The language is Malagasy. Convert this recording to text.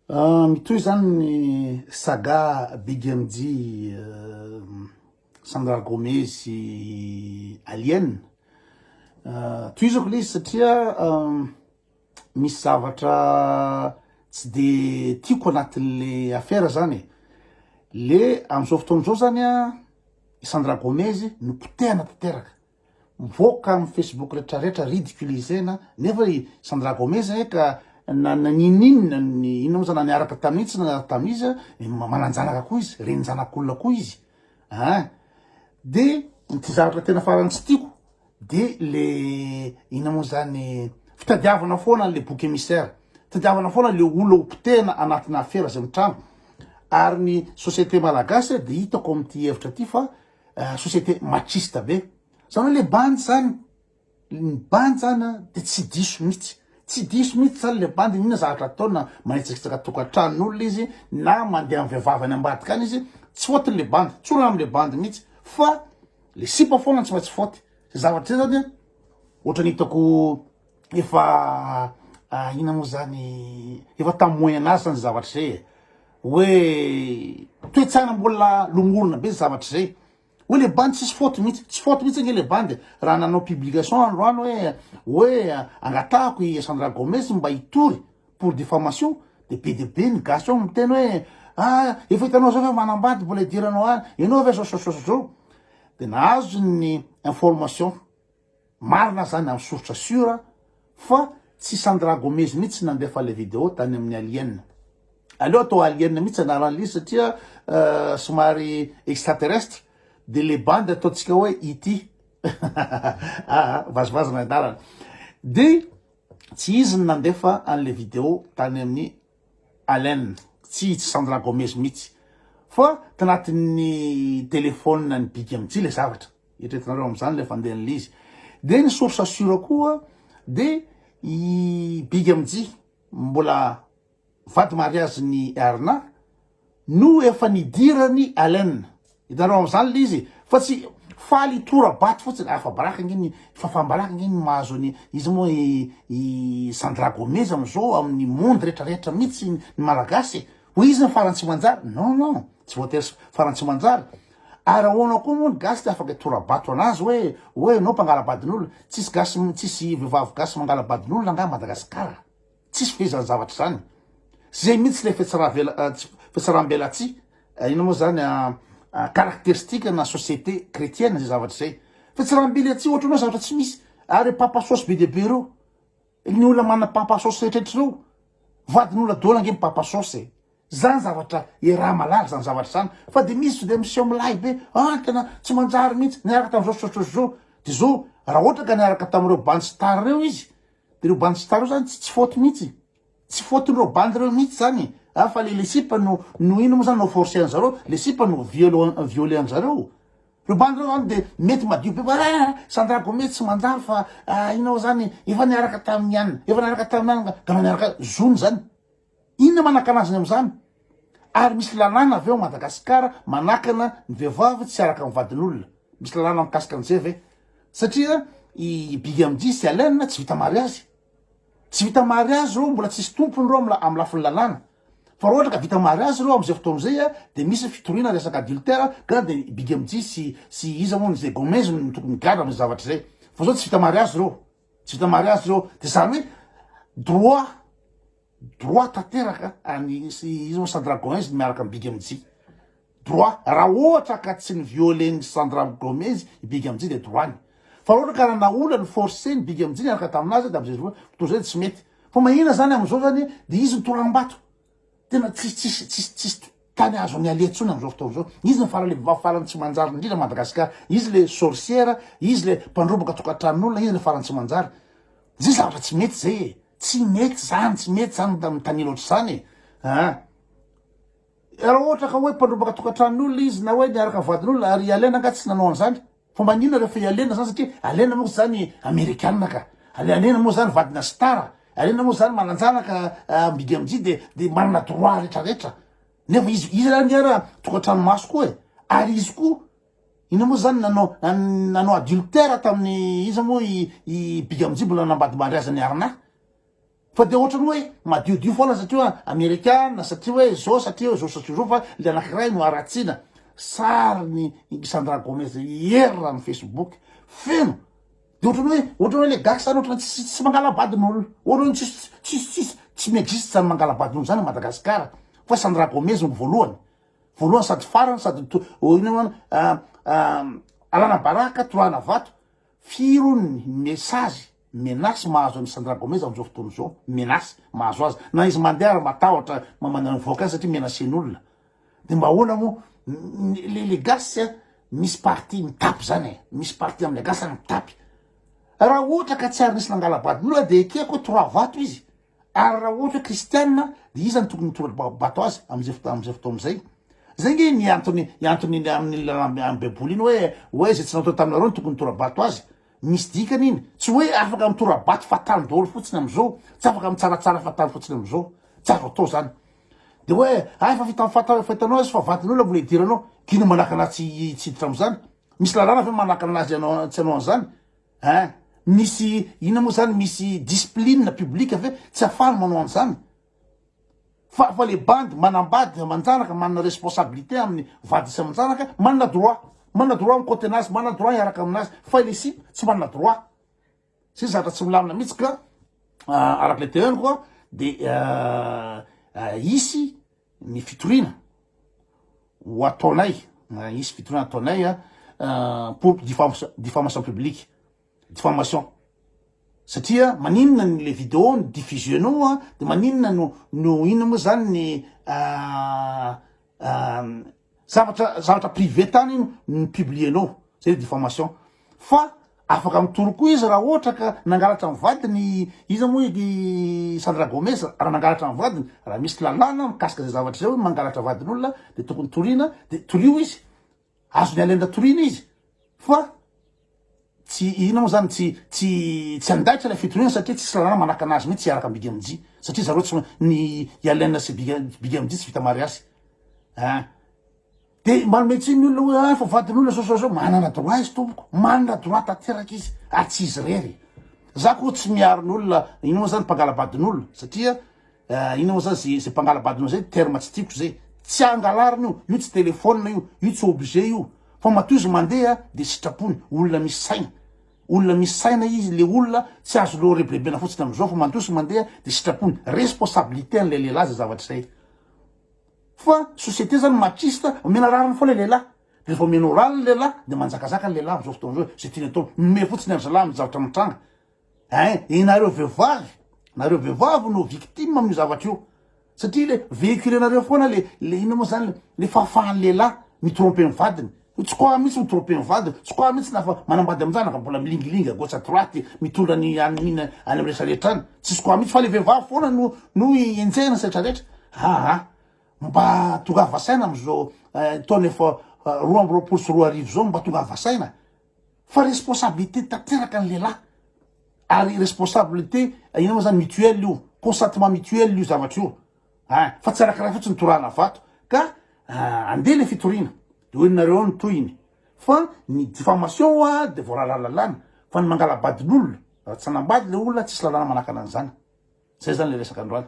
Mitohy zany ny saga BDMJ Sandra Gomez sy Alien tohizako le izy satria misy zavatra tsy de tiako anatin'le affaire zany e le am'zao fotoana zao zany a i Sandra Gomez no potehana tanteraka. Mivoaka am Facebook retra retra ridiculiser-na nefa i Sandra Gomez e ka na ninininona ny inona moa zany na niaraka tamin'iza tsy niaraka tamin'iza dia mananjanaka koa izy reninjanak'olona koa izy ah de ity zavatra tena farany tsy tiako de le inona moa zany fitadiavana foana le boky émissaire fitadiavana foana le olona ho potehina anatina afera izay mitranga ary ny société malagasy dia hitako amin'ity hevitra ity fa société machiste be zany hoe le bandy zany ny bandy zany a de tsy diso mihitsy tsy diso mihitsy zany le bandy inona zavatra ataony na manitsakitsaka tokantranon'olona izy na mandeha amin'ny vehivavy any ambadika any izy tsy faute le bandy tsorana am'le bandy mihitsy fa le sipa foana no tsy maintsy faute zay zavatra zay zany a ohatran'ny hitako Efa ina moa zany efa tam moyen age zany zavatra zay e hoe toetsana mbola lomorona be zavatra zay hoe le bandy tsisy faute mihitsy tsy faute mihitsy ange le bandy raha nanao publication androany hoe hoe angatahako i Sandra Gomez mba hitory pour diffamation de be de be ny gasy ao miteny hoe ah efa hitanao zao fa manambady mbola idiranao any ianao ve zao zao zao zao de nahazo ny information Marina zany am source sur fa tsy Sandra Gomez mihitsy nandefa le video tany amin'ny alien. Aleo atao alien mihitsy anaran'il'izy satria somary extraterrestre de le bandy ataontsika hoe ET aa vazivazy ny anarany. Dia tsy izy no nandefa an'le video tany amin'ny Allen, tsy izy Sandra Gomez mihitsy fa tanatin'ny telephone ny big mtsy ilay zavatra, eritreretinareo amin'izany ilay fandehan'ilay izy, dia ny source sure koa dia i big mtsy mbola vady mariazin'i Erna No efa nidiran'i Allen. Hitanao amin'izany ilay izy fa tsy faly hitora-bato fotsiny. Afa-baraka ange ny fafam-baraka ange ny mahazo an'i iza moa i i Sandra Gomez amin'izao amin'ny monde rehetra rehetra mihitsy ny Malagasy e. Hoe izy no farany tsy manjary. Non non, tsy voatery farany tsy manjary. Ary ahoana koa moa ny gasy tsy afaka hitora-bato an'azy hoe hoe ianao mpangala-badin'olona. Tsisy gasy tsisy vehivavy gasy mangala-badin'olona angaha Madagasikara. Tsisy ve izany zavatra izany? Zay mihitsy ilay fetsarambelatsihy, inona moa izany, caractéristique na société chrétienne izay zavatra izay. Fetsarambelatsihy ohatra hoe zavatra tsy misy. Ary papa sosy be dia be ireo, ny olona manana papa sosy rehetrehtra ireo, vadin'olona daholo ange ny papa sosy e. Zany zavatra iaraha malaza zany zavatra zany fa de misy to de miseho milay be ah tena tsy manjary mihitsy niaraka tamin'izao sy izao sy izao sy izao de zao raha ohatra ka niaraka tamin'ireo bandy star ireo izy Ireo bandy star reo zany tsy faute mihitsy, tsy faute n'ireo bandy reo mihitsy zany a, fa le le sipa no no ino mo zany no forcer anzareo, le sipa no viol violer anzareo, reo bandy reo zany de mety madio be fa ah sandra gome tsy manjary fa ah ino mo zany efa niaraka taminy ann efa niaraka taminy ann ka anao niaraka zony zany. Inona manakana azy ny amin'izany? Ary misy lalàna avy ao Madagasikara manakana ny vehivavy tsy hiaraka amin'ny vadin'olona? Misy lalàna mikasika an'izay ve? Satria i Bigamdy sy Allen tsy vita mariazy. Tsy vita mariazy ireo, mbola tsisy tompony ireo amin'ny amin'ny lafiny lalàna. Fa raha ohatra ka vita mariazy ireo amin'izay fotoana izay dia misy fitoriana resaka adultère ka dia Bigamdy sy sy iza hono izay Gomez no tokony migadra amin'ny zavatra izay. Fa izao tsy vita mariazy ireo. Tsy vita mariazy zao, de zany hoe droit droit tanteraka any izy moa sans dragon izy miaraka amin'ny big MJ droit raha ohatra ka tsy ny violer ny sans dragon izy i big MJ dia droit ny fa ohatra ka nanao olana forcer ny big MJ niaraka taminazy dia amizay toy izay tsy mety fa mahina zany amizao zany dia izy ny toram-bato Tena tsisy tsisy tsisy tsisy tany azony alia tsony amzao fotoana zao izy ny farany lehibe farany tsy manjary indrindra Madagascar izy le sorcière izy le mpandroboka tokatranon'olona izy le farany tsy manjary zay zavatra tsy mety zay e tsy mety zany tsy mety zany mitanila ohatr'izany e ah raha ohatra ka hoe mpandroboka tokatranon'olona izy na hoe niaraka vadin'olona ary ialena nga tsy nanao an'izany Fa maninona refa i Alena zany satria Alena manko zany amerikana ka. Alena moa zany vadina star, Alena moa zany mananjanaka mididy amzio de de manana droit retraretra. Nefa izy izy zany ara tokatranomaso koa e, ary izy koa ino moa zany nanao nanao adultère taminy iza moa i i big amzio mbola nambadibandry azy ny arnaque. Fa dia ohatran'ny hoe madiodio foana satria hoe amerikana, satria hoe izao, satria hoe izao, satria izao, fa ilay anankiray no haratsiana. Sarin'i Sandra Gomez Iyer raha ny Facebook, feno. Dia ohatran'ny hoe, ohatran'ny hoe ilay gasy izany ohatran'ny tsy tsy mangala-bady ny olona. Ohatran'ny hoe tsisy tsisy tsisy tsy mi-existe izany mangala-bady ny olona izany i Madagasikara. Fa Sandra Gomez no voalohany. Voalohany sady farany sady to- oh, inona moa izany, ah, ah, alana baraka, torahana vato. Firy hono ny message menace mahazo an'i Sandra Gomez amin'izao fotoana izao, menace mahazo azy, na izy mandeha ary matahotra mamangy ny avoakany satria menacen'olona, dia mba ahoana moa, le le gasy misy partie mitapy zany e, misy partie amle gasy zany mitapy, raha ohatra ka tsy ary nisy nangala-badin'olona dia ekeko hoe trois vato izy, Ary raha ohatra hoe kristianina dia iza no tokony hitora-bato azy amin'izay fotoana amin'izay fotoana izay? Izay ange ny antony ny antony ny amin'ny lalàna amin'ny baiboly iny hoe hoe izay tsy natao taminareo no tokony hitora-bato azy. Misy dikany iny. Tsy hoe afaka mitora-bato fa tany daholo fotsiny amin'izao, tsy afaka mitsaratsara fa tany fotsiny amin'izao. Tsy azo atao izany. Dia hoe hay fa fita fata fa hitanao azy fa vadin'olona mbola idiranao. Kiana manakana tsy tsy hiditra amin'izany. Misy lalàna ve manakana an'azy ianao tsy hanao an'izany? Hein? Misy inona moa zany misy discipline publique ve tsy afahany manao an'izany? Fa fa le bandy manambady aman-janaka manana responsabilité amin'ny vady sy aman-janaka manana droit. Manana droit mikote anazy, manana droit hiaraka aminazy fa ilay sipa tsy manana droit. Zay zavatra tsy milamina mihitsy ka araka le teneniko de hisy ny fitoriana ho ataonay, hisy fitoriana ataonay pour diffamation publique, diffamation, satria maninona ny le video no diffusionao an, de maninona no no inona moa zany ny Zavatra zavatra privé tany ny publier nao, zay le diffamation. Fa afaka mitory koa izy raha ohatra ka nangalatra ny vadiny iza moa i Sandra Gomez raha nangalatra ny vadiny, raha misy lalàna mikasika izay zavatra izay hoe mangalatra vadin'olona dia tokony toriana dia torio izy, azon'i Allende toriana izy fa Tsy inona moa zany tsy tsy tsy andaitra ilay fitoriana satria tsisy lalàna manaka anazy mihitsy hiaraka amin'ny Big MJ satria zareo tsy ny i Allen sy Big Big MJ tsy vita mariazy ah de manome tsiny ny olona hoe ah fa vadin'olona zao zao zao manana droit izy tompoko manana droit tanteraka izy ary tsy izy irery e za koa tsy miaro ny olona inona moa zany mpangala-badin'olona satria Eh inona moa zany ze ze mpangala-badona zay terme tsy tiako zay tsy angalarina io io tsy telephone io io tsy objet io fa matoa izy mandeha de sitrapony olona misy saina olona misy saina izy le olona tsy azo leo rebirebena fotsiny amizao fa matoa izy mandeha de sitrapony responsabilité an'ilay lehilahy zay zavatra zay fa société zany machiste omena rariny foana le lehilahy de refa omena orale le lehilahy de manjakazaka ny lehilahy amizao fotoana zao ze tiany atao minomehy fotsiny an-dry zalahy amizavatra mitranga Hein, ianareo vehivavy, nareo vehivavy no victime amin'io zavatra io. Satria le véhiculenareo foana le le inona moa zany le fahafahan'ny lehilahy mi-tromper ny vadiny. Io tsy quoi mihitsy mi-tromper ny vadiny, tsy quoi mihitsy na fa manambady amin'izany na fa mbola milingilingy à gauche à droite, mitondra ny hanina any amin'ny rehetra rehetra any. Tsisy quoi mihitsy fa le vehivavy foana no no enjehina ny sehatra rehetra. Aa! mba tongava saina amin'izao taona efa roa amby roapolo sy roa arivo izao mba tongava saina. Fa responsabilité tanteraka ny lehilahy ary responsabilité ino moa zany mutuelle io, consentement mutuel io zavatra io ah, fa tsy anankiray fotsiny torahana vato ka ah, andeha le fitoriana de hoe nareo ny tohiny fa ny diffamation oa de voarara lalàna fa ny mangalabadin'olona raha tsy nanambady le olona tsisy lalàna manakana an'izany zay zany le resaka androany